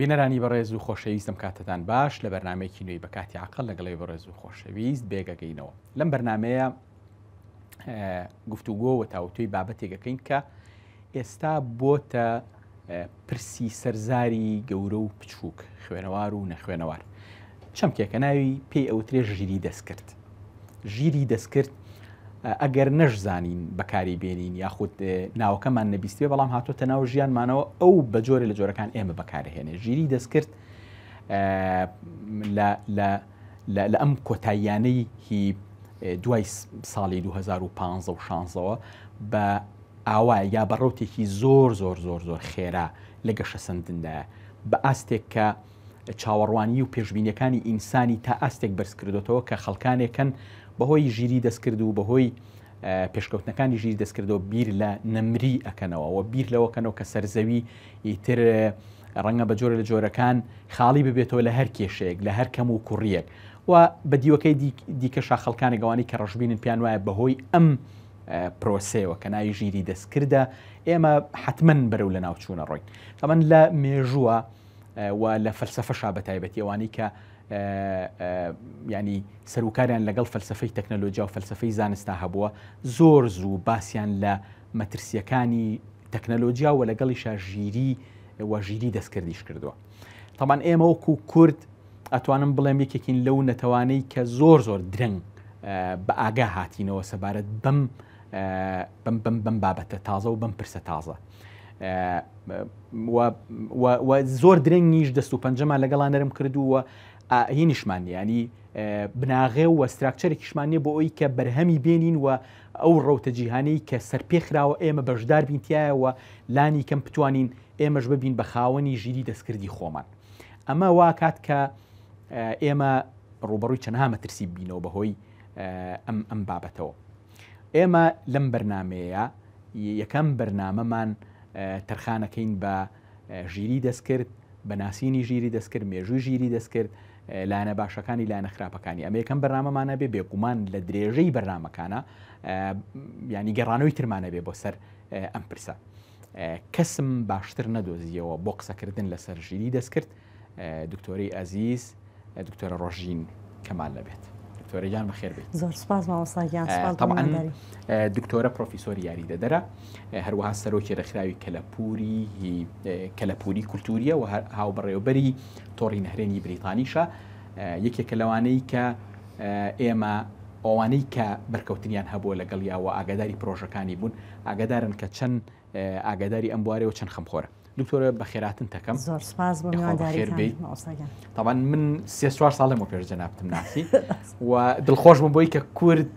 بینەرانی بەڕێز و خۆشەویستم کاتتان باش لە بەرنمێکی نوێی بەکاتی عقل لەگەڵی بەڕێز و خۆشەویست بێگەگەینەوە لەم بەرنمەیە گفتوگۆ و تاوتوی بابەتێکەکەین کە ئێستا بۆتە پرسی سەر زاری گەورە و بچووک، خوێنەوار و نەخوێنەوار. چەمکێکە ناوی پێی ئەوترێ ژیری دەستکرد. ژیری دەستکرد ئەگەر نەشزانین بەکاری بێنین یاخود ناوەکەمان نەبیستێ بەڵام هاتۆتە ناو ژیانمانەوە ئەو بە جۆرە لە جۆرەکان ئێمە بەکارهێنێ ژیری دەستکرد لە ئەم کۆتاییانەی هی دوای ساڵی 2015 و شانزەوە بە ئاوایە یا بە ڕەوتێکی زۆر زۆر زۆر زۆر خێرا لە گەشەسەندندایە بە ئاستێک کە چاوەڕوانیی و پێشبینیەکانی ئینسانی تا ئاستێک بەرز کردۆتەوە کە خەڵکانێکن بەهۆی ژیری دەستکرد و بەهۆی پێشکەوتنەکانی ژیر دەستکردەوە بیر لە نەمری ئەکەنەوە و بیر لەوەکەنەوە کە سەرزەوی ئیتر ڕەنگە بە جۆرە لە جۆرەکان خاڵی ببێتەوە لە هەر کێشەیەک لە هەر کەم و کوڕیەک و بە دیوەکەی دیکە شاخەڵکانی گەوانی کە ڕژبینن پێیان وایە بەهۆی ئەم پرۆسەیەوە کە ناوی ژیری دەستکردە ئێمە حتمما بەرەو لە ناوچوونە ڕۆین تەمەەن لە مێژووە و لە فەلسفەشا بە تایبەتیوانی کە ینی سەرکاریان لەگەڵ فەلسفەی تەکنەلۆجیا و فەلسفەی زانستا هەبووە زۆر زوو باسییان لە مەترسیەکانی تەکنەلۆجیا و لەگەڵیشا ژیری وەژیری دەستکردیش کردووە تەمان ئێمە وەکو کورد ئەتوانم بڵێم یەکێکین لەو نەتەوانەی کە زۆر زۆر درەنگ بە ئاگا هاتینەوە سەبارەت بەم بم بم بم بابەتە تازە و بم پرسە تازە زۆر درەنگیش دەست و پەنجەمان لەگەڵا نەرم کردووە هی نیشمان ینی بناغێ و ستراکچەرێکیشمانە بۆ ئەوی کە بەرهەمی بێنین و ئەو ڕەوتە جیهانەی کە سەرپێخراوە ئێمە بەشدار بینتیایەوە لانی کەم بتوانین ئێمەش ببین بە خاوەنی ژیری دەستکردی خۆمان ئەمە واکات کە ئێمە ڕوبەڕووی چەنها مەترسی بینەوە بەهۆی ئەم ئەم بابەتەوە ئێمە لەم بەرنمەیە یەکەم بەرنمەمان تەرخانەکەین بە ژیری دەستکرد بە ناسینی ژیری دەستکرد مێژووی ژیری دەستکرد لاەنە باشەکانی لاەنە خراپەکانی ئەمە یەکەم بەرنمەمانە بێ بێگومان لە درێژەی بەرنمەکانە ینی گەڕانەوەی ترمانە بێ بۆ سەر ئەم پرسە کەسم باشتر نەدۆزییەوە بۆ قسەکردن لەسەر ژیری دەستکرد دکتۆری ئازیز دکتۆرە ڕۆژین کەمال لەبێت. دکتۆرە گیان بەخێر بێت زۆر سپاس مامۆساگیان دکتۆرە پرۆفیسۆر یاری دەدەرە هەروەها سەرۆکی ڕێکخراوی کەلەپوری کەلەپوری کولتوریە و هاوبڕێوبەری تۆڕی نهرێنی بریتانیشە یەکێکە لەوانەی کە ئێمە ئەوانەی کە بەرکەوتنیان هەبووە لەگەڵ یاوە ئاگاداری پرۆژەکانی بوون ئاگادارن کە چەن ئاگاداری ئەم بوارەوە چەن خەمخۆرە دکتۆرە بەخێراتن تەکەم زۆر سپاس بۆ میوانداریتان مامۆستا گیان طبعا من سێ چوار ساڵ لەمەوە پێش جەنابتم ناسی و دڵخۆش بووم بۆی کە کورد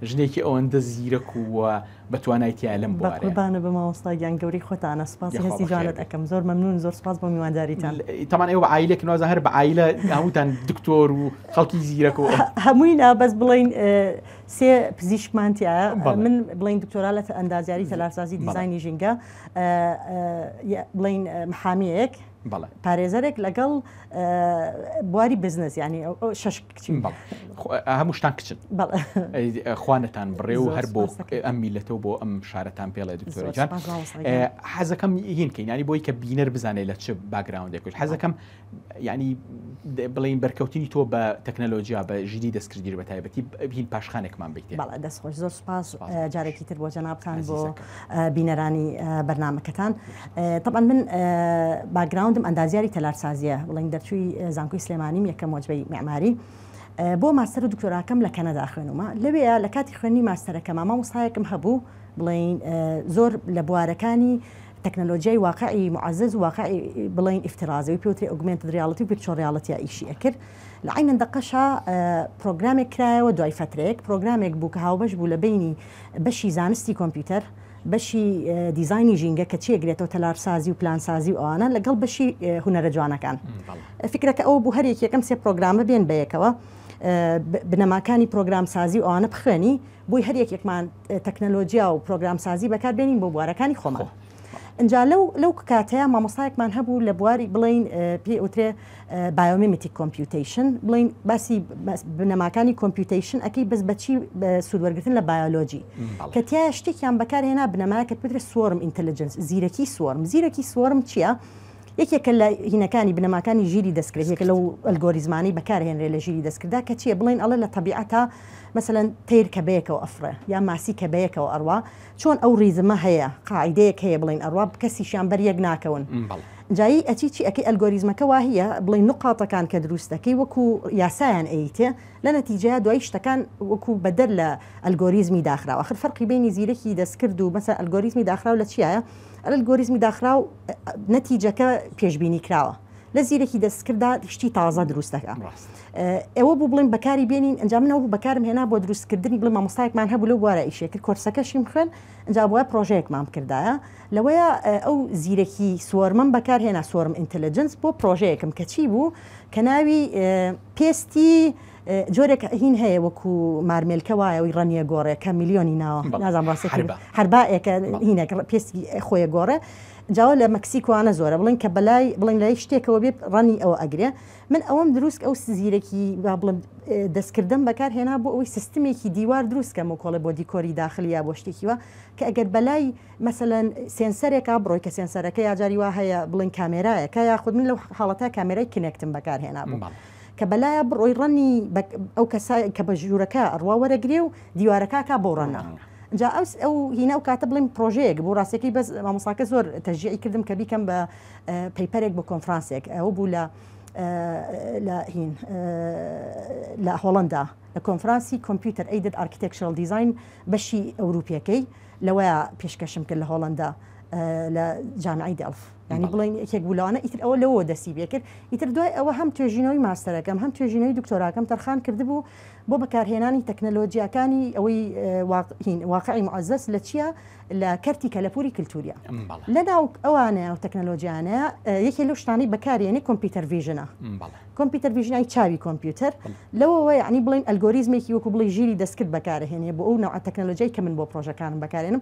ژنێکی ئەوەندە زیرەک و بە توانای تیا لەم بۆ بە قوربانە بە مامۆستا گیان گەوری خۆتانە سپاس یە هەستی خۆخێر جوانت بێ. ئەکەم زۆر مەمنون زۆر سپاس بۆ میوانداریتان تەمان ئێوە عیلێک نوازە هەر بە عیلە هەمووتان دکتۆر و خەڵکی زیرەکەوە هەمووی نا بەس بڵین سێ پزیشکمان تایە من بڵین دکتۆرا لە ئەندازیاری تەلارسازی دیزانی ژینگە بڵین محامیەک پارێزەرێک لەگەڵ بواری بزنس ینی شش کچین هەموو شتان کچن خوانتان بڕێ و هەر بۆ ئەم میلەتەوە بۆ ئەم شارەتان پێڵێ دکتۆرجان حەزەکەم هین کەینانی بۆی کە بینەر بزانێت لە چ باگراوندێکوش حەزەکەم یانی بڵین بەرکەوتنی تۆ بە تەکنەلۆجییا بە ژیری دەستکردی بە تایبەتی بین پاشخانێکمان بیت بەڵ دەست خۆش زۆر سپاس جارێکی تر بۆ جەنابان بۆ بینەرانی بەرنمەکەتان طبعا من باگراوندم ئەندازیاری تەلارسازیە بڵین دەرچووی زانکۆی سلێمانیم یەکەم وەجبەی معماری. بۆ ماستەر و دکتۆراکەم لە کەنەدا خوێنمە لەوێ لە کاتی خوێنی ماستەرەکە مامە وسایەکم هەبوو بڵین زۆر لە بوارەکانی تەکنەلۆجیای واقعی موعەزەز و واقعی بڵێین ئیفتیڕازی وەی پێ وترێ ئۆگمێنتد ڕیاڵتی و ڤیرچۆڵ ڕیاڵتیە ئیشی ئەکرد لە عەینە دەقەشا پرۆگرامێک کرایەوە دوای فەترەیەک پرۆگرامێک بوو کە هاوبەش بوو لە بینی بەشی زانستی کۆمپیوتەر بەشی دیزانی ژینگە کە چێگرێتەوە تەلارسازی و پلانسازی و ئەوانە لەگەڵ بەشی هوەرە جوانەکان فکرەکە ئەو بوو هەر یەکێکم سێ پرۆگرامە بێن بەیەکەوە بنەماکانی پرۆگرام سازی و ئەوانە بخوێنی بۆی هەر یەکێکمان تەکنەلۆجیا و پرۆگرامسازی بەکاربێنین بۆ بوارەکانی خۆمان. ئەجا لەو لەو کاتەیە مامۆستایەکمان هەبوو لە بواری بڵین پێ ئوترێ بایۆمیمیتی کۆمپیوتیشن بڵین باسی بنەماکانی کۆمپیوتیشن ئەەکەی بەس بەچی سوودوەرگتن لە بایۆلۆجی کە تیا شتێکیان بەکارهێنا بنەمایە کە پترە سوۆرم ئینتەلجنس زیرەکی سوۆرم زیرەکی سوۆرم چییە؟ یەکێکە لە هینەکانی، بنەماکانی، ژیری دەستکرد، یەکێکە لەو ئەلگۆریزمانەی بەکارهێنرێت لە ژیری دەستکرددا، کە چییە؟ بڵێین ئەڵێ لە تەبیعەتا مەسەلەن تەیر کە بەیەکەوە ئەفڕێ، یا ماسی کە بەیەکەوە ئەڕوا، چۆن ئەو ڕیزمە هەیە، قاعیدەیەک هەیە بڵێین ئەڕوا، کەسیشیان بەر یەک ناکەون. ئینجا ی ئەچی چی ئەکەی؟ ئەلگۆریزمەکە وا هییە، بڵێین نوقاتەکان کە دروست دەکەی وەکو یاسایان ئەیتێ، لە نەتیجەیا دوایی شتەکان وەکو بەدەر لە ئەلگۆریزمی داخراو، ئاخر فەرقی بەینی زیرەکی دەستکرد و مەسەلەن ئەلگۆریزمی داخراو لە چییایە؟ ئەلگۆریزمی داخراو. نەتیجەکە پێشببینی کراوە لە زیرەکی دەستکردا شتی تازە دروست دەکە ئەوە بوو بڵێن بەکاری بێنین ئەنجام منەوە بەکارم هێنا بۆ دروستکردنی بڵێ مامۆستایەکمان هەبوو لە بوارە ئیشێکرد کۆرسەکەشیم خوێن ئەجا بووە پرۆژەیەکمان کردایە لەوەیە ئەو زیرەکی سوۆرمەم بەکار هێنا سوۆرم ئینتەلجنس بۆ پرۆژەیەکم کەچی بوو کە ناوی پێستی جۆرێک هین هەیە وەکو مارمێلکە وایە وی ڕەنیە گۆڕێ کە میلیۆنی ناوە نازان ڕاستی هەربائێکە هینێک پێستی خۆیە گۆڕێ جاوە لە مەکسیکوانە زۆرە بڵین کە بەلای بڵین لای شتێکەوە بێت ڕەنی ئەوە ئەگرێ من ئەوەم دروست ئەو سزیرەکی بڵم دەستکردم بەکار هێنا بۆ ئەوەی سیستمێکی دیوار دروستکەم و کۆڵێ بۆ دیکۆری داخلی یا بۆ شتێکیوە کە ئەگەر بەلای مەسەەن سێنسەرێکا بڕۆی کە سێنسەرەکە یاجاری وا هەیە بڵین کامێرایەکە یاخود من لەو حاڵەتە کامێرای کنێکتم بەکار هێنا بوو کە بەلایە بڕۆی ڕەنی بە ئەو کەسا کە بە ژوورەکە ئەڕوا وەرەگرێ و دیوارەکەکە بۆ ڕەنە جا ئەو ئەو هینا و کاتە بڵین پرۆژەیەک بۆ ڕاستەکەی بەس مامۆساکە زۆر تەژیعی کردم کە بیکەم بە پەیپەرێک بۆ کۆنفرانسێک ئەو بوو لە لە هین لە هۆڵندا لە کۆنفرانسی کۆمپیوتەر ئەیدد ئارکیتێکشل دیزین بەشی ئەوروپیەکەی لەوەیە پێشکەشم کرد لە هۆڵندا لە جامعی دەڵف ینی بڵین یەکێک بولانە ئیتر ئەوە لەوە دەسی بێکرد ئیتر دوای ئەوە هەم توێژینەوەی ماستەرەکەم هەم توێژینەوەی دکتۆراکەم تەرخان کردبوو بۆ بەکارهێنانی تەکنەلۆجییاکانی ئەوەی واقعی معزەس لە چییە لە کەرتی کەلەپوری کللتوریا لە ناو ئەوانە و تەکنەلۆجیانە یەکێ لەو شتانی بەکارێنی کۆمپیوتەر ڤژنە کۆمپیوتەر ڤژنای چاوی کۆمپیوتەر لەوەوە ینی بڵین ئەلگۆریزمێکی وەکو بڵی ژیری دەستکرد بەکارهێنێ بۆ ئەو نەوە تەکنەلۆجیای کە من بۆ پرۆژەکانم بەکارێنم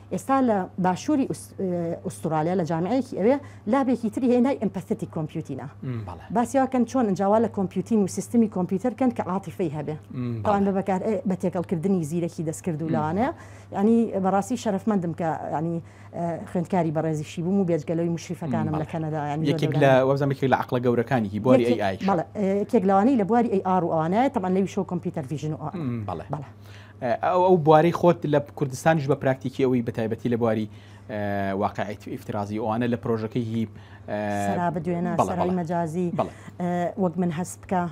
ئێستا لە باشووری ئوستوڕالیا لە جامعەیەکی ئەوێ لابێکی تری هێنای ئەمپەستی کۆمپیوتینە باسیواکەن چۆن ئەنجاوا لە کۆمپیوتین و سیستمی کۆمپیوتەر کەن کە عاتیفەی هەبێ پاوان بە بەکار بە تێکەڵکردنی زیرەکی دەستکرد و لەوانەیە ینی بەڕاستی شەرفمەندم کە ینی خوێندکاری بەڕێزیشی بووم و بێجگەلەوەی مشریفەکانم لە کەنەدا یەکێک لە وەزەمێکی لە عقلە گەورەکانیی بۆری ئەی ئای کێک لەوانی لە بواری ئەی ئاڕ و ئەوانایە تەمان لەوی شۆ کۆمپیوتەر ڤژن و بەڵێ. ئەو ئەو بوارەی خۆت لە کوردستانیش بە پراکتیکی ئەوی بەتایبەتی لە بواری واقعیت ئیفترازی ئەوانە لە پرۆژەکەی هی سەرا بدوێنە سەرای مەجازی وەک من هەست بکە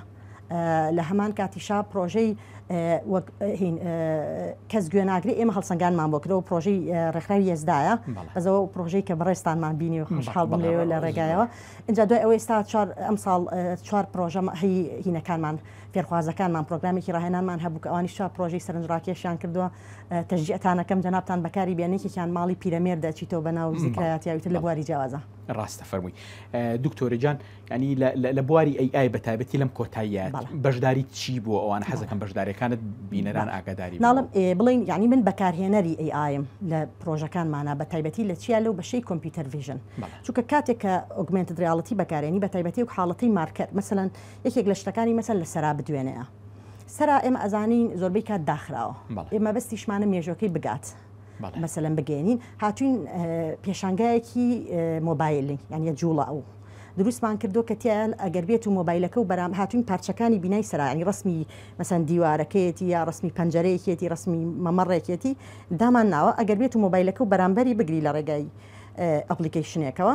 لە هەمان کاتیشا پرۆژەی کەس گوێناگری ئێمە هەڵسەنگانمان بۆ کرەوە پرۆژەی ڕێکخراوی یزدایە بەزەوە پرۆژەی کە بەڕێستانمان بینی و خۆشحاڵ بم لێوە لە ڕێگایەوە اینجا دوای ئەوەی ئێستا چوار ئەمساڵ چوار پرۆژە هی هینەکانمان فێرخوازەکانمان پرۆگرامێکی ڕاهێنانمان هەبوو کە ئەوانیش چوار پرۆژەی سەرنجڕاکێشیان کردووە، تەشجیعتان ئەکەم جەنابتان بەکاری بێنن، یەکێکیان ماڵی پیرەمێرد ئەچیتەوە بە ناو زیکرایاتیا و ئیتر لە بواری جیاوازە. ڕاستە فەرمووی دکتۆرە جان یانی لە بواری ئەی ئای بە تایبەتی لەم کۆتاییە بەشداریت چی بووە ئەوانە حەز ئەکەم بەشداریەکانت بینەران ئاگاداری بن. ناڵم ئێ بڵێین یانی من بەکارهێنەری ئەی ئایم لە پرۆژەکانمانا بە تایبەتی لە چیا لەو بەشەی کۆمپیوتەر ڤیژن چونکە کاتێک کە ئۆگمێنتد ڕیاڵتی بەکارێنی بە تایبەتی وەک حاڵەتەی مارکەر مەسەلەن یەکێک لە شتەکانی مەسەن لە سەرا بدوێنێە سەرا ئێمە ئەزانین زۆربەی کات داخراوە ئێ مەبەستیشمانە مێژوەکەی بگات مەسەلەن بگەێنین هاتوین پێشانگایەکی مۆبایلی یانە جوڵە ئەو دروستمان کردو کە تیان ئەگەر بێت و مۆبایلەکە و بەرام هاتوین پارچەکانی بینای سەرانی ڕسمی مەسەن دیوارەکەیەتی یا ڕسمی پەنجەرەیەکێتی ڕسمی مەمەڕێکێتی دامان ناوە ئەگەر بێت و مۆبایلەکە و بەرامبەری بگری لە ڕێگای ئەپلیکیشنێکەوە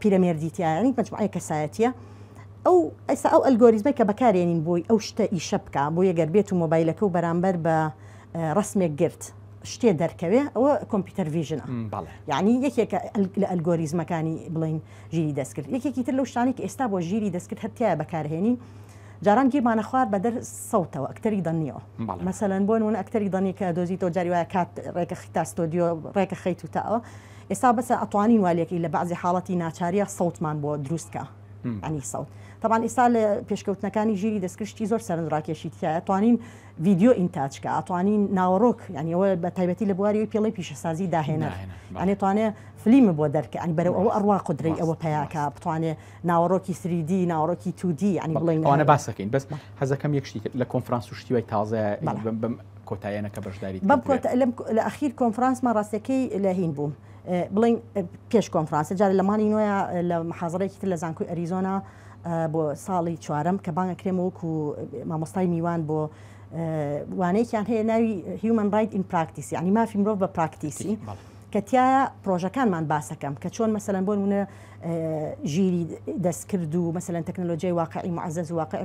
پیرەمێردی تیایانی مجموعەیە کەسایەتیە ئەو ئەسا ئەو ئەلگۆریزمە کە بەکارێنین بۆی ئەو شتە ئیشە بکە بۆ یەگەر بێت و مۆبایلەکە و بەرامبەر بە ڕسمێک گرت شتێ دەرکەوێ ئەوە کۆمپیوتەر ویژنە یعنی یەکێکە لە ئەلگۆریزمەکانی بڵین ژیری دەستکرد یەکێکی تر لەو شتانی کە ئێستا بۆ ژیری دەستکرد هەتیایە بەکارهێنین جاران گیرمانە خوار بەدەر سەوتەوە ئەکتەری دەنیەوە مەسەەن بۆن ون ئەکتەری دەنی کە دۆزی تۆ جاری وایە کات ڕێکە خیتا ستۆدیۆ ڕێکە خەیت و تاوە ئێستا بەسە ئەتوانین وا لێکەین لە بەعزی حاڵەتی ناچاریە سەوتمان بۆ دروست کا عنی سەوت تەبان ئیسا لە پێشکەوتنەکانی ژیری دەستکرشتی زۆر سەرنجڕاکێشی تایە توانین ڤیددیو ئینتاجکە ئەتوانین ناوەڕۆک ینیەوە بە تایبەتی لە بواری پێڵی پیشەسازی داهێنەر ئەێتوانێ فلیمە بۆ دەرکە ئەنی بەرە ئەوە ئەڕوا قدرەی ئەوە پیاکە بتوانێ ناوەڕۆکی سریدی ناوەڕۆکی تودی ینی بڵێن ئەوانە باسەکەین بەس حەزەکەم یەکشتی لە کۆنفرانس و شتیوای تازە کۆتاییانە کە بەشداریت بەم کردووێ. کۆتا لەم لە ئەخیر کۆنفرانسمان ڕاستەکەی لە هین بووم اه، بڵێین اه، پێش کۆنفرانس جارێ لە مانگی نۆیا اه، لە محازەرەیەکی تر لە زانکۆی ئەریزۆنا اه، بۆ ساڵی چوارەم کە بانگ ئەکرێم وەکو اه، مامۆستای میوان بۆ اه، وانەیەکیان هەیە ناوی Human Right in Practice یانی مافی مرۆڤ بە پراکتیسی تیک، بەڵێ. کە تیایا پرۆژەکانمان باس ئەکەم کە چۆن مەسەلەن بۆ نموونە اه، ژیری دەستکرد و مەسەلەن تەکنەلۆجیای واقعی معزز و واقع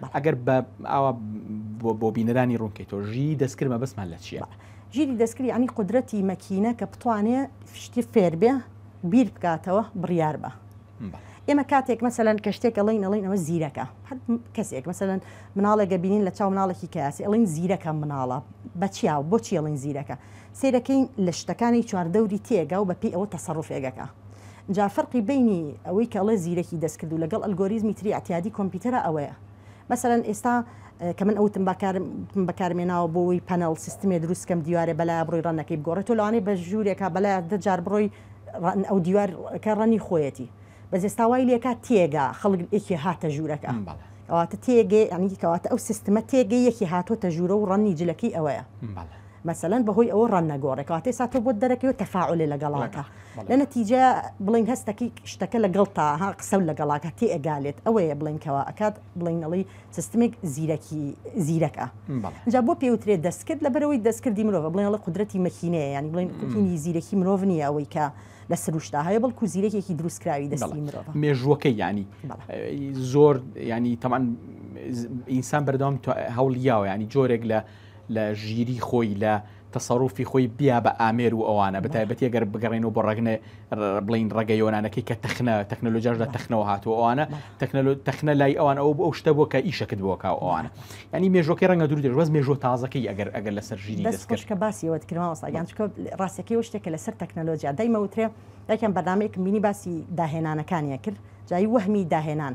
بەڵێ. ئەگەر بە ئاوا بۆ بۆ بینەرانی ڕوون کەیتەوە ژیی دەستکرد مەبەستمان لە چییە؟ بەڵێ. ژیری دەستکرد یەعنی قودرەتی مەکینە کە بتوانێ شتی فێر بێ، بیر بکاتەوە، بڕیار بە. بەڵێ. ئێمە کاتێک مەسەلەن کە شتێک ئەڵێین ئەڵێین ئەوە زیرەکە. هەر کەسێک مەسەلەن مناڵێک ئەبینین لە چاو مناڵێکی کەیاسی ئەڵێین زیرەکە مناڵە. بە چیا و بۆچی ئەڵێین زیرەکە؟ سەیرەکەین لە شتەکانی چواردەوری تێگا و بەپێی ئەوە تەسەروفێک ئەکا جا فەرقی بەینی ئەوەی کە ئەڵێ زیرەکی دەستکرد و لەگەڵ ئەلگۆریزمی تری ئیعتیادی کۆمپیوتەرا ئەوەیە مەسەلەن ئێستا کە من ئەوتم با کارم بەکارم هێناوە بۆ ئەوەی پەنەڵ سیستمێ دروست کەم دیوارێ بەلایە بڕۆی ڕەنەکەی بگۆڕێ تۆ لەوانەیە بە ژوورێکا بەلایە دە جار بڕۆی ڕەن ئەو دیوارەکە ڕەنی خۆیەتی بەس ئێستا وای لێکا تێگا خەڵک یەکێ هاتە ژوورەکە ئەم بەڵێ کەواتە تێگەی یانی کەواتە ئەو سیستمە تێگەی یەکی هاتۆتە ژوورە و ڕەنی جلەکەی ئەوەیە بەڵێ مەسەلەن بەهۆی ئەوە ڕەنگ نەگۆڕێ کەواتەی سا تۆ بۆت دەرەکەوێ تەفاعولێ لە گەڵاکە لە نەتیجە بڵین هەستەکی شتەکە لە گەڵتا ها قسەو لە گەڵاکە تێ ئەگالێت ئەوەیە بڵین کەوا ئەکات بڵین ئەڵی سستمێک زیرەکی زیرەکە جا بۆ پێوترێ دەستکرد لە بەرەوەی دەستکردی مرۆڤ بڵێ ئەڵە قدرەتی مەکینەیە یانی بڵین کوتینی زیرەکی مرۆڤ نییە ئەوەی کە لە سروشتا هەیە بەڵکو زیرەکێکی دروستکراوی دەستی مرۆڤ مێژووەکە ینی زۆر ینی تەمان ئینسان بەردەوام هەوڵیاوە ینی جۆرێک لە لە ژیری خۆی لە تەسەروفی خۆی بیا بە ئامێر و ئەوانە بە تایبەتی گەر بگەڕێنەوە بۆ ڕەگنە بڵین ڕەگە یۆنانەکەی کە تەخنە تەکنەلۆژیاش لە تەخنەوە هاتووە ئەوانە تەکنەلۆ تەخنە لای ئەوان ئەو ئەو شتە بووە کە ئیشەکت بۆ کاو ئەوانە ینی مێژۆکەی ڕەنگە دوور دەژ بەس مێژۆ تازەکەی ئەگەر ئەگەر لەسەر ژیری دەست کەش کە باسی ئەوەت کرد مامۆستا گیان چونکە ڕاستەکەی ئەو شتێکە لەسەر تەکنەلۆژیا دایمە وترێ یەکیان بەرنامەیەکم بینی باسی داهێنانەکانیان کرد جایی وەهمی داهێنان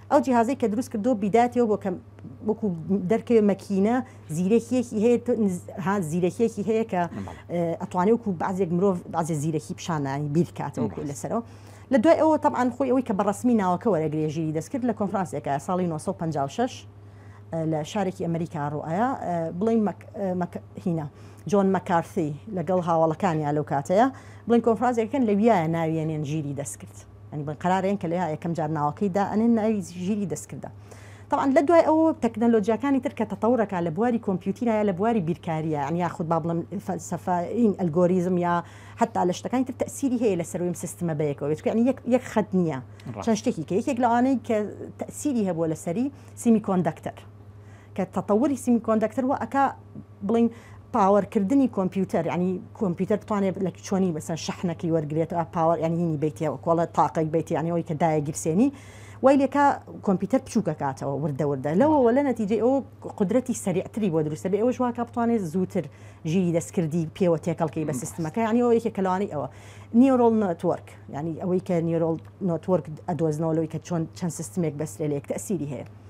ئەو جیهازەی کە دروست کردووە بیداتەوە بۆ کە وەکو دەرکەوێ مەکینە زیرەکیەکی هەیە تۆ نز- ها زیرەکیەکی هەیە کە ئە، ئەتوانێ وەکو بەعزێک مرۆڤ بەعزێ زیرەکی پیشانانی بیرکاتەوە کۆی لەسەرەوە لە دوای ئەوە تەبعەن خۆی ئەوەی کە بە ڕەسمی ناوەکە وەرەگرێ ژیری دەست کرد لە کۆنفرانسێکا ساڵی 1956 ئە، لە شارێکی ئەمریکا ڕوو ئایا ئە، بڵێن مەک ئە، مەک هینا جۆن مەکارثی لەگەڵ هاوەڵەکانیا لەو کاتەیا بڵێن کۆنفرانسێک کەن لەویایە ناویەنێن ژیری دەست کرد. یانی بڵێن قەرارە ئێن کە لە یەکەم جار ناوەکەی دا ئەنێن ناوی ژیری دەستکردە تەبعەن لە دوای ئەوە تەکنەلۆجیاکانی تر کە تەتەوڕ ئەکا لە بواری کۆمپیوتیرا یا لە بواری بیرکارییە یانی یاخود با بڵێم فەلسەفە ئین ئەلگۆریزم یا حەتتا لە شتەکانی تر تەئسیری هەیە لەسەر وی ئەم سیستمە بەیەکەوە بێت یانی یەک یەک خەت نییە چەند شتێکی کە یەکێک لەوانەی کە تەئسیری هەبووە لەسەری سیمی کۆندەکتەر کە تەتەوری سیمیکۆندەکتەر وا ئەکا بڵێین پاوەر کردنی کۆمپیوتەر یانی کۆمپیوتەر بتوانێت لە چۆنی بەسەر شەحنەکەی وەرگێتەوە پاوەر یانینی بیتەوە کۆڵە تاقەی بیتی یانەوەی کە دایە گیرسێنی وای لێکا کۆمپیوتەر بچووکەکاتەوە وردە وردە لەوەوە لە نەتیجەی ئەو قدرەتی سەریعتری بۆ دروستە بێ ئەوش واکە بتوانێت زووتر ژیری دەستکردی پێوە تێکەڵکەی بە سیستمەکە یانی ئەو یەکێک کەلوانی ئەوە نیۆرۆل نۆتۆرک ینی ئەوەی کە نیۆرۆل نۆتۆرک ئەدۆزنەوە لەوەی کە چۆن چەند سیستمێک بەسرێ لە یەک تەسیری هەیە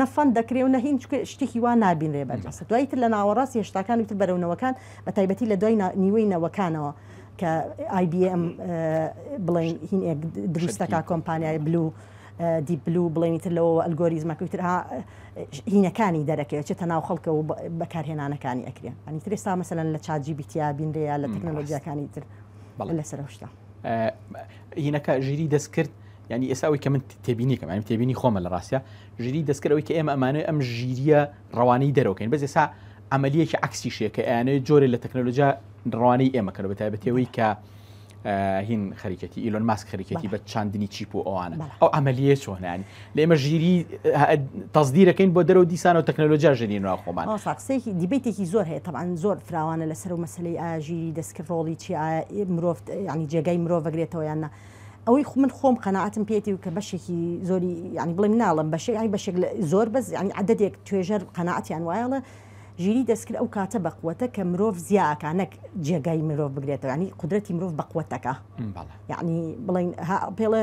نە فەند دەکرێ و نە هینچ شتێکی وا نابینرێ بەرجەستە دوایی تر لە ناوەڕاست هێشتاکانی تر بەرەو نەوەکان بە تایبەتی لە دوای نیوەی نەوەکانەوە کە IBM بڵێن هین ئێک دروستەکە کۆمپانیای بلو دی بلو بڵێنی تر لەوە ئەلگۆریزمەکەی تر ها هینەکانی دەرەکەوێت چێتە ناو خەڵکە و بەکارهێنانەکانی ئەکرێن ئەنی ترێستا مەسەن لە چاجی بیتیا بینرەیە لە تەکنەلۆژیاکانی تر بەڵێ لەسەر شتە. هینەکە ژیری دەستکرد ینی ئێساوی کە من تێبینی کەم ئەم تێبینی خۆمە لە ڕاستە ژیری دەستکردەوەی کە ئێمە ئەمانەوە ئەم ژیریە ڕەوانەی دەرەوەکەین بەس ئێسا عملیەکی عکسی شێکە ئەیانەیە جۆرە لە تەکنەلۆجا ڕوانەی ئێمەکەەوە بە تایبەتەوەی کە هین خەریکەتی ئیلۆن ماسک خەریکەتی بە چاندنی چیپ و ئەوانە ئەو عملیە چۆنیان لێمە ژیری تەزدیرەکەین بۆ دەرەوە دیسانەوە تەکنەلۆجیا ژێنی ناو خۆمان ساقسێکی دیبیتێکی زۆر هەیە تەعاان زۆر فراوانە لەسەر و مەسلەی ئاژیری دەستکرد ڕۆڵی چی مرۆڤ ینی جێگای مرۆڤ بەگرێتەوە یاننا ئەوەی خو من خۆم قەنەعاتم پێێتی و کە بەشێکی زۆری ینی بڵێم ناڵم بەشێ ینی بەشێک زۆر بەس ینی عددێک توێژەر قەنەعاتیان وایەڵە ژیری دەستکرد ئەو کاتە بەقوەتە کە مرۆڤ زیاکانەک جێگای مرۆڤ بگرێتەوەنی قدرەتی مرۆڤ بەقوەتەکە یعنی بڵین پێڵە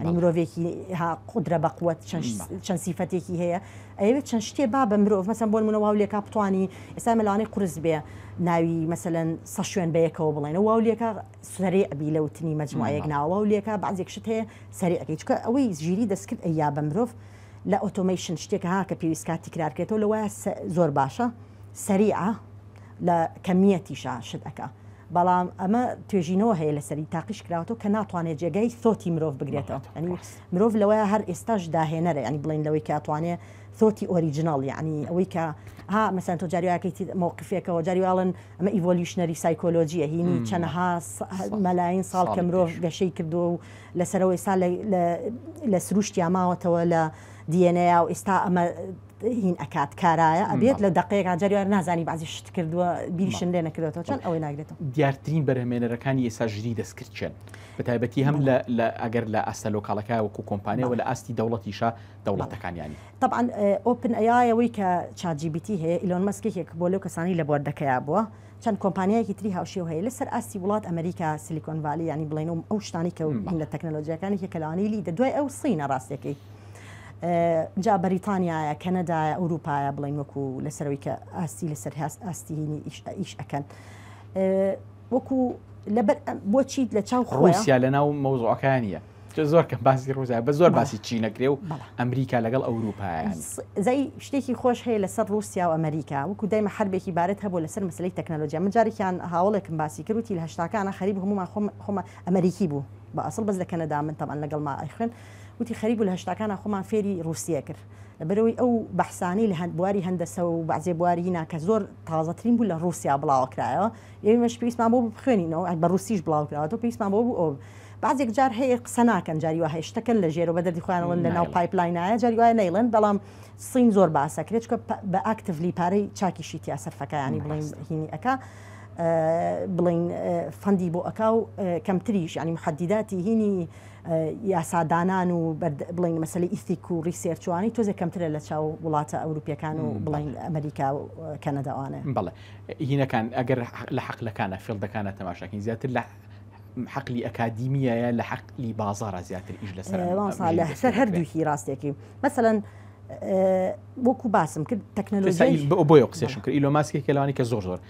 ئەنی مرۆڤێکی ها قودرە بە قوت چەند سیفەتێکی هەیە ئەوێت چەند شتێ با بە مرۆڤ مەسەن بۆن منە واو لێکا بتانی ئێستا مەلانەی قرس بێ ناوی مەسەن سە شوێن بەیەکەوە بڵێن واو لێکا سەری ئەبی لە وتنی مەجموعەیەک ناوە و لێکا بەزێک شت هەیە سەری ئەەکەی چکە ئەوەی ژیری دەستکرد ئەیا بە مرۆڤ لە ئۆتۆمیشن شتێک ها کە پێویست کاتی کرارکرێتەوە لەوە زۆر باشە سەریعە لە کەمیەتیشە شتەکە بەڵام ئەمە توێژینەوە هەیە لەسەری تاقیش کراوەتەوە کە ناتوانێت جێگای سۆتی مرۆڤ بگرێتەوە ئەنی مرۆڤ لەوەیە هەر ئێستاش داهێنەرە ینی بڵین لەوەی کاتوانێ سۆتی ئۆریجنناڵ یعنی ئەوەی کە ها مەسەن تۆ جاریواکەی مووقفێکەوە جاریواڵن ئەمە ئیڤۆلیشنەری سایکۆلۆژیە هینی چەنەها مەلاین ساڵ کە مرۆڤ گەشەی کردو و لەسەرەوەی سا لە سروشتیا ماوەتەوە لە دیێنەیە و ئێستا ئەمە هین ئەکات کارایە ئەبێت لە دەقەیەکا جاریار نازانی بازی شت کردووە بیریشن لێ نەکردێتەوە چەند ئەوەی ناگرێتەوە دیارترین بەرهمێنەرەکانی ئێسا ژری دەستکردچێن بە تایبەتی هەم لە ئەگەر لە ئاستە لۆکاڵەکە وەکو کۆمپانیەوە لە ئاستی دەوڵەتیشە دەوڵەتەکانیانی طبعاان ئۆپن ئەیەوەی کە چاجیبیتی هەیە ئیلۆن مەسکێکێک بۆ لەو کەسانی لە بۆردەکەیا بووە چەند کۆمپانیایەکی تری هاوشێو هەیە لەسەر ئاستی وڵات ئەمریکا سلیکۆن ڤالی ینی بڵێن و ئەو شتانی کە لە تەکنەلۆژیەکانی کە کەلانیلی دە دوای ئەو سینە ڕاستەکەی جا بەریتانیایە کەنەدایە ئەوروپایە بڵین وەکو لەسەرەوەی کە ئاستی لەسەر هاست ئاستیهینی ئیش ئەەکەن وەکو لەبەر بۆچیت لە چاو خۆسیا لە ناو مەوزۆەکانە زۆر کە باسی ڕوزیا بە زۆر باسی چی نەکرێ و ئەمریکا لەگەڵ ئەوروپایان زای شتێکی خۆش هەیە لەسەر رووسیا و ئەمریکا وەکو دایمە هەربێکی بارەت هەبوو لەسەر مەسلەی تەکنەلۆجیا من جارێکیان هاوڵێکم باسی کردوتی لە هشتاکانە خەریب هەمومان خۆم خۆمە ئەمریکی بوو بە ئەسڵ بەس لە کەنەدا من تەمان لەگەڵ ما ئەیخن وتی خەریک بوو لە هەشتاکانا خۆمان فێری ڕووسیە کرد لەبەرئەوەی ئەو بەحسانەی لە بواری هەندەسە و بەعزێ بوارینا کە زۆر تازەترین بوو لە ڕووسیا بڵاوە کرایەوە ئێمەش پێویستمان بۆ بخوێنینەوە بە ڕووسیش بڵاو کراوەتەوە پێویستمان بۆ بوو ئەو بعضێک جار هەیە قسە ناکەن جاری وایە شتەکەن لە ژێرەوە بە دەردی خۆیانەوەن لە ناو پایپلاینایە جاری وایە نەیڵێن بەڵام سین زۆر باسە کرێت چکە بە ئاکتڤلی پارەی چاکیشی تیا سەرفەکەیانی بڵین هینی ئەکا بڵین فەندی بۆ ئەکا و کەمتریش ینی محەدیداتی هینی یاسادانان و بڵێن مەسەلەی ئیسیک و ڕیسێرچ وانەی تۆزێ کەمترە لە چاو وڵاتە ئەوروپیەکان و بڵێن ئەمریکا و کەنەدا وانە بەڵێ هینەکان ئەگەر لە حەقلەکانە فێڵدەکانە تەماشاکەین زیاتر لە حقلی ئەکادیمیایە لە حقلی بازارە زیاتر ئیش لەسەر لەسەر هەردووکی ڕاستێکی مەسەەن بۆکو باسم کرد تەکنەلۆژی بۆ قسەشم کرد ئیلۆماسکی کەلوانی کە زۆر زۆر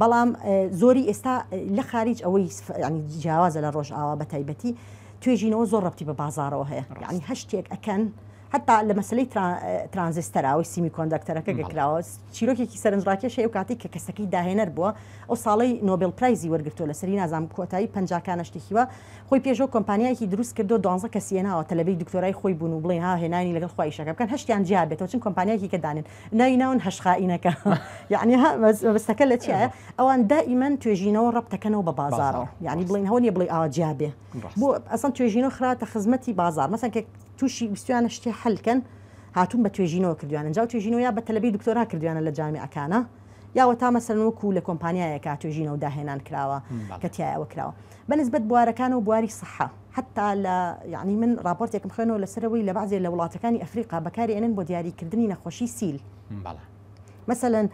بەڵام زۆری ئێستا لە خاریج ئەوەی یعنی جیاوازە لە ڕۆژئاوا بە تایبەتی توێژینەوە زۆر ڕەبتی بە بازارەوە هەیە یعنی هەشتێک ئەکەن حتا لە مەسلەی ترانزستەراوەی سیمی کۆندەکتەرەکە گەکراوە چیرۆکێکی سەرنجڕاکێش هەیە و کاتی کە کەسەکەی داهێنەر بووە ئەو ساڵی نۆبل پرایزی وەرگتووە لە سەری نازام کۆتایی پنجکانە شتێکیوە خۆی پێشۆ کۆمپانیایکی دروست کردو دوانزە کەسیەناوە تەلەبی دکتۆرای خۆی بوون و بڵێ ها هێنانی لەگەڵ خۆیشەکە بکەن هەشتیان جیابێتەوە چون کۆمپانیایکی کە دانێن ناوی ناون هەش خائینەکە یعنی ها مەبەستەکە لە چیە ئەوان دائیمەن توێژینەوە ڕەب دەکەنەوە بە بازارەوە یعنی بڵین هەوە نیە بڵی ئاوا جیابێ بۆ ئەسان توێژینەوە خراوەتە خزمەتی بازار مەسەن کە تووشی ویستویانە شتێ حلکەن هاتون بە توێژینەوە کردویانە جااو توێژینەوە یا بە تەلبی دکتۆرا کردویانە لە جامیەکانە یاوە تا مەسەن وەکو لە کۆمپانیایەکە توێژینەوە داهێنان کراوە کە تایەوە کراوە بەنسبەت بوارەکان و بواری سەحە حەتتا لە یەعنی من ڕاپۆرتێکم خوێنەوە لەسەر ئەوەی لە بەعزێ لە وڵاتەکانی ئەفریقا بەکاری ئەنێن بۆ دیاری کردنی نەخۆشی سیل بەڵێ مەسەلەن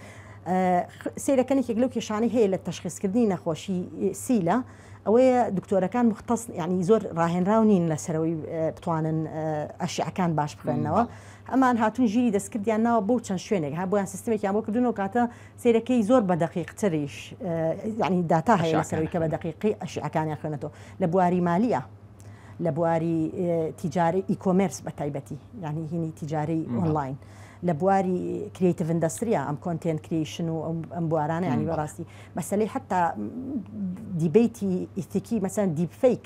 سەیرە کەن یەکێک لەو کێشانەی هەیە لە تەشخیص کردنی نەخۆشی سیلە ئەوەیە دکتۆرەکان مختص یعنی زۆر ڕاهێنراو نین لەسەرەوەی بتوانن ئەشیعەکان باش بخوێنەوە ئەمان هاتون ژیری دەستکردیان ناوە بۆ چەند شوێنێک هەبوویان سیستمێکیان بۆ کردنەوە کاتە سەیرەکەی زۆر بە دەقیق تریش یعنی داتا هەیە لەسەروی کە بە دەقیقی ئەشیعەکانیان خوێنێتەوە لە بواری مالیە لە بواری تیجاری ئیکۆمرس بە تایبەتی یعنی هینی تیجاری ئۆنلاین لە بواری کریتیڤ ئەندستریا ئەم کۆنتێن کریشن و ئەم بوارانە ینی بەڕاستی مەسلەی حتا دیبیتی ئیتیکی مەسەن دیبفیک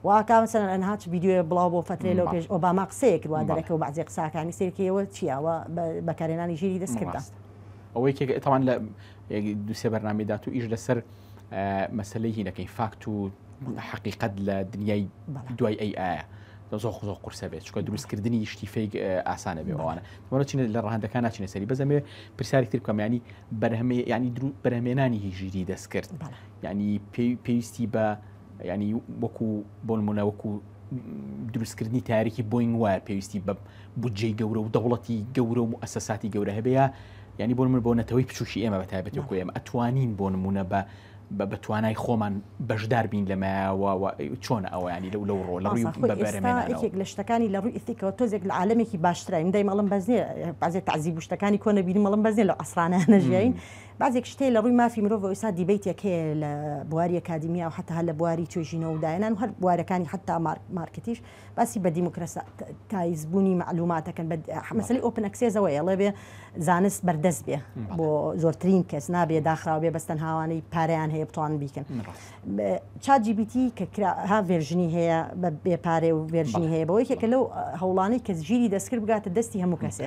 واتا مثلا ئەنها چ ڤیدیۆیە بڵاو بۆ فترەی لەو پێش ئۆباما قسەیەک وا دەرەکە و بەعزی قساکانی سێرکەوە چیاوە بەکارێنانی ژیری دەست کردا ئەوەی کێک ئەتوان لە دوسێ بەرنامی دات و ئیش لەسەر مەسلەی هینەکەی فاکت و حقیقت لە دنیای دوای ئەی ئاە زۆخ زۆ قورسە بێت چکە دروستکردنی شتی فیک ئاسانە بێ ئەوانە وەە چینە لە ڕهندەکان ناچینە سەری بەزەمێ پرسیاری تر کەمیانی بەرهەمێ ینی درو بەرهمێنانی هیژیری دەستکرد ینی پێویستی بە ینی وەکو بۆنمونە وەکو دروستکردنی تاریکی بۆین وایە پێویستی بە بودجەی گەورە و دەوڵەتی گەورە و ئەسەساتی گەورە هەبەیە ینی بۆن من بۆ نەتەوەی بچوکی ئێمە بە تایبەتی خۆ ئێمە ئەتوانین بۆ نمونە بە بە بەتوانای خۆمان بەشدار بین لەمەوە چۆن ئەویانی لەو لەو ڕۆ لەڕوی بەرێک لە شتەکانی لە ڕووی ئیسیکەوە تۆزێک لە عاالمێکی باشترین دای مەڵم بەزنێ بازێ تعزیب شتەکانی کۆنە بینی مەڵم بەزێ لە ئەسرانە نەژین بەعزێک شتێ لە ڕووی مافی مرۆڤەوە ئێستا دیبەیتێک هەیە لە بواری ئەکادیمیا و حەتا هەر لە بواری توێژینەوە و داهێنان و هەر بوارەکانی حەتا مارکتیش باسی بە دیموکراسیتایزبوونی مەعلوومات دەکەن بە مەسەلەی ئۆپن ئەکسێسەوە ئێڵێ بێ زانست بەردەست بێ بۆ زۆرترین کەس نابێ داخراو بێ بەس تەنهاوانەی پارەیان هەیە بتوانن بیکەن چات جی پی تی کە کرا ها ڤێرژنی هەیە بە بێ پارێ و ڤێرژنی هەیە بەوەی کە لەو هەوڵانەی کە ژیری دەستکرد بگاتە دەستی هەموو کەسێ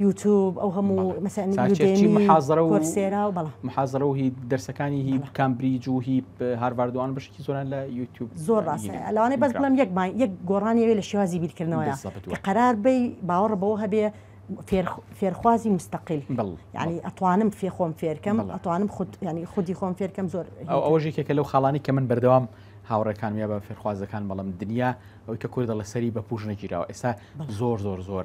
یوتوب ئەو هەموو محازرەسێرا و بەڵام محازرە و هی دەرسەکانی هی کامبریج و هی هارواردوان بشکی زۆران لە یوتیوب زۆر ڕاستە لەوانەی بەس بڵم یەک یەک گۆڕانیەوێ لە شێوازی بیرکردنەوە قەرار بی باوەڕ بەوە هەبێ فێرخوازی مستەقل ینی ئەتوانم فێ خۆم فێرکەم ئەتوانم خود ینی خودی خۆم فێرکەم زۆر ئەوژێکێکە لەو خاڵانی کە من بەردەوام هاوڕێکان یا بە فێرخوازەکان بەڵم دنیا ئەوی کە کوردە لە سەری بە پوش نەگیراوە ئێستا زۆر زۆر زۆر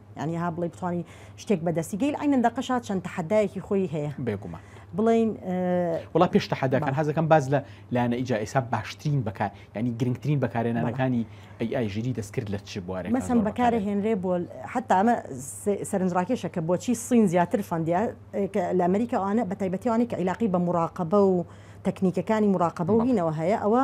یانی ها بڵێ بتوانی شتێک بەدەستی گەیل ئەینەن دەقەشا چەند تەحەدایەکی خۆی هەیە بێگومان بڵین وڵا پێش تەحەداکان هەزەکەم باز لە لایەنە ئیجا ئێسا باشترین بەکار ینی گرنگترین بەکارێنانەکانی ئەی ئای ژیری دەستکرد لە چ بوارێ مەسم بەکارە هێنرێ بۆ حتا ئەمە سەرنجڕاکێشە کە بۆچی سین زیاتر فەندیا لە ئەمریکاوانە بە تایبەتیوانی کە عیلاقی بە مراقبە و تەکنیکەکانی مراقبە و هینەوە هەیە ئەوە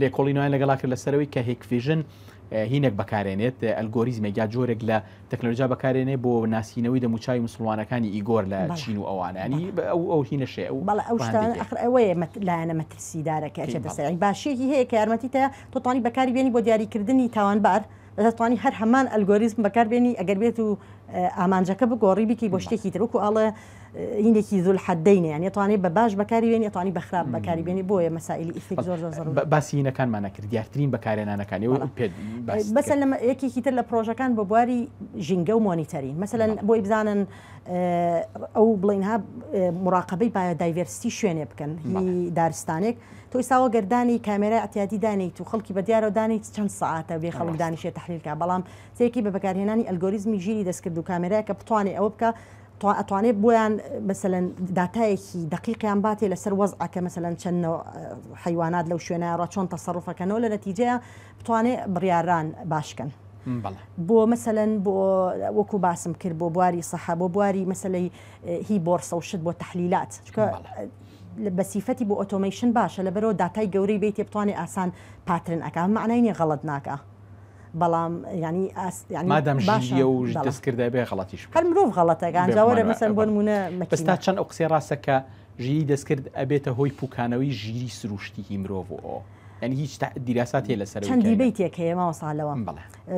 لێکۆڵینەوەیان لەگەڵا کرد لەسەرەوەی کە هێکڤیژن هینێک بەکارێنێت ئەلگۆریزمێک یا جۆرێک لە تەکنەلۆژیا بەکارێنێ بۆ ناسینەوەی دەموچوی مسلمانەکانی ئیگۆر لە چین و ئەوانانی ئەو ئەو هینەشێ ئەو بەڵ ئەو ئەوەیە لایەنە مەترسیدارەکە بەسەر باشیەکی هەیە کە یارمەتی تە تۆتانی بەکاری بێنی بۆ دیاریکردنی تاوانبار دەتوانی هەر هەمان ئەلگۆریزم بەکاربێنی ئەگەر بێت و ئامانجەکە بگۆڕی بکی بۆ شتێکی ترک و ئاڵێ هینێکی زول حەدەینە یان ئەتوانی بە باش بەکاری بێنی ئەتوانی بە خراپ بەکاری بێنی بۆیە مەسائیلی ئیسیک زۆر زۆر زەروورە باسی هینەکانمان نەکرد دیارترین بەکارێنانەکانی و پێت باس بەسە لەمە یەکێکی تر لە پرۆژەکان بۆ بواری ژینگە و مۆنیتەرین مەسەلەن بۆی بزانن ئەو بڵین ها مراقبەی پایە دایڤرستی شوێنێ بکەن هی دارستانێک تۆ ئێستاوە گەردانی کامێرای ئەتیادی دانیت و خەڵکی بە دیارەوە دانیت چەند ساعتە بێ خەڵک دانیشێ تحلیلکە بەڵام سێکی بە بەکارهێنانی ئەلگۆریزمی ژیری دەستکرد و کامێرای کە بتوانێ ئەوە بکە تۆ ئەتوانێ بۆیان مەسەلەن داتایەکی دەقیقیان باتێ لەسەر وەزعەکە مەسەلەن چەند نەوع حیوانات لەو شوێنە ڕە چۆن تەسەڕفەکەنەوە لە نەتیجەیە بتوانێ بڕیاران باشکەن بۆ مەسەن بۆ وەکو باسم کرد بۆ بواری سەحە بۆ بواری مەسلەی هی بۆرسە و شت بۆ تحلیلات چکە بە سیفەتی بۆ ئۆتۆمیشن باشە لە بەرەوە داتای گەورەی بیت بتوانێت ئاسان پاترن ئەکان معنای نیە غەڵت ناکە بەڵام یانی ئاست یانی مادام ژیریە و دەستکردای بێ غەڵەتیش هەر مرۆڤ غەڵەتە گانجا وەرە مەسەن بۆ نمونە مەکستا چەند ئەو قسەی ڕاستە کە ژیری دەستکرد ئەبێتە هۆی پوکانەوەی ژیری سروشتیی مرۆڤ و ئەو یعنی هیچ دیراسات هەیە لەسەر چەند دیبەیتێک هەیە ماوەسا لەوە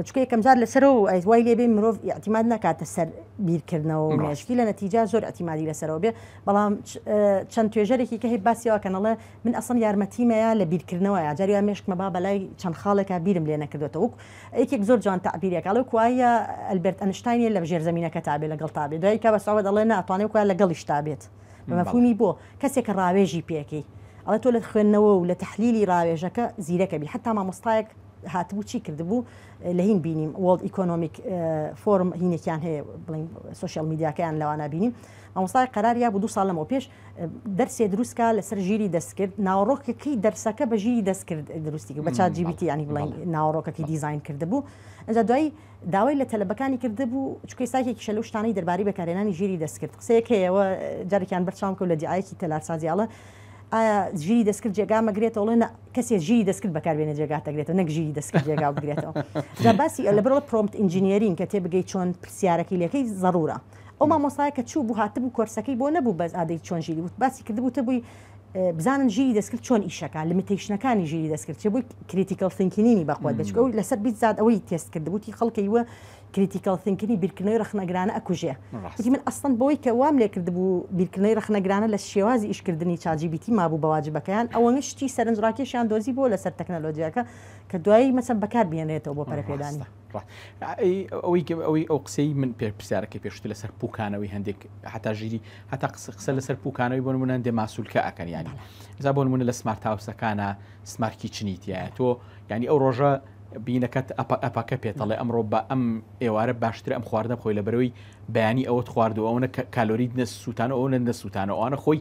چکە یەکەم جار لەسەر و ئەیز وای لێبێ مرۆڤ یاعتیماد ناکاتە سەر بیرکردنەوە مێشکی لە نەتیجا زۆر ئەتیمادی لەسەرەوە بێ بەڵام چەند توێژەرێکی کە هەیە باسیەوە کەنەڵێ من ئەسڵەن یارمەتیمەیا لە بیرکردنەوەیا جاری وا مێشکمە با بەلای چەند خاڵێکا بیرم لێ نەکردۆتە وەک یەکێک زۆر جوان تەعبیرێک ئەڵێ وەکو وایە ئەلبێرت ئەنشتاین لە ژێر زەمینەکە تابێ لەگەڵ تابێ دوای کە بە سەعوەد ئەڵێ نا ئەتوانێ وەکو وایە لەگەڵیش تابێت بە مەفهومی بۆ کەسێک کە ڕاوێژی پێکەی ئەڵێ تۆ لە خوێندنەوە و لە تەحلیلی ڕاوێژەکە زیرەک ئەبی حەتا مامۆستایەک هاتبوو چی کردبوو لە هین بینیم وۆڵد ئیکۆنۆمیک فۆرم هینێکیان هەیە بڵین سوسیال میدیاکەیان لەوانە بینیم مامۆستای قەرار یا بوو دوو ساڵ لەمەوە پێش دەرسێ دروستکە لەسەر ژیری دەستکرد ناوەڕۆکەکەی دەرسەکە بە ژیری دەستکرد دروستی بە چات جیبیتی ینی بڵین ناوەڕۆکەکەی دیزین کردبوو ئەجا دوای داوای لە تەلبەکانی کردبوو چکەی ساکێکی شەلو شتانی دەرباری بەکارێنانی ژیری دەستکرد قسەیەکەیەوە جارێکیان بەرچام کەوت لە دیعاەکی تەلارسازیاڵە ئایا ژیری دەستکرد جێگا مەگرێتەوەڵێ کەسێ ژیری دەستکرد بەکاربێنە جێگا دەگرێتەوە نەک ژیری دەستکرد جێگا بگرێتەوە باسی لە بەرەوە پرۆمت ئینجینیرین کە تێ بگەی چۆن پرسیارەکەی لەکەی ضرورە ئەو مامۆسایە کە چوو بوو هاتبوو کۆرسەکەی بۆ نەبوو بەس ئادەی چۆن ژیری وت باسی کردبوو تە بووی بزانن ژیری دەستکرد چۆن ئیشەکە لمیتەیشنەکانی ژیری دەستکرد چێ بووی کریتیکەڵ سنکینینی بەخوات دەچکە و لەسەر بیت زاد ئەوەی تێست کردبووی خەڵکی وە کریتیکەڵ سنکینی بیرکردنەوەی رەخنەگرانە ئەکوژێ وتی من ئەسڵەن بەوەی کە وام لێ کردبوو بیرکردنەوەی رەخنەگرانە لە شێوازی ئیشکردنی چاجیبیتی مابوو بەواجبەکەیان ئەوە شتی سەرنجڕاکێشیان دۆزی بۆ لەسەر تەکنەلۆجیاکە کە دوایی مەسە بەکار بێنرێتەوە بۆ پەرەپێدانی ئەوەی ئەو قسەی من پێ پرسیارەکەی پێشتر لەسەر پوکانەوەی هەندێک هەتا ژیری هەتا قسە قسە لەسەر پوکانەوەی بۆ منە دێ ماسوولکە ئەکەنیانی زا بۆن منە لە سمارت هاوسەکانە سمارکی چنیتیایە تۆ ینی ئەو ڕۆژە بینەکەت ئەپ ئەپەکە پێتەڵێ ئەمڕۆ بە ئەم ئێوارە باشتر ئەم خواردە خۆی لە بەرەوەی بەیانی ئەوت خواردو ئەوە کالۆریت نە سووتانە ئەوە نەسووتانە ئەوانە خۆی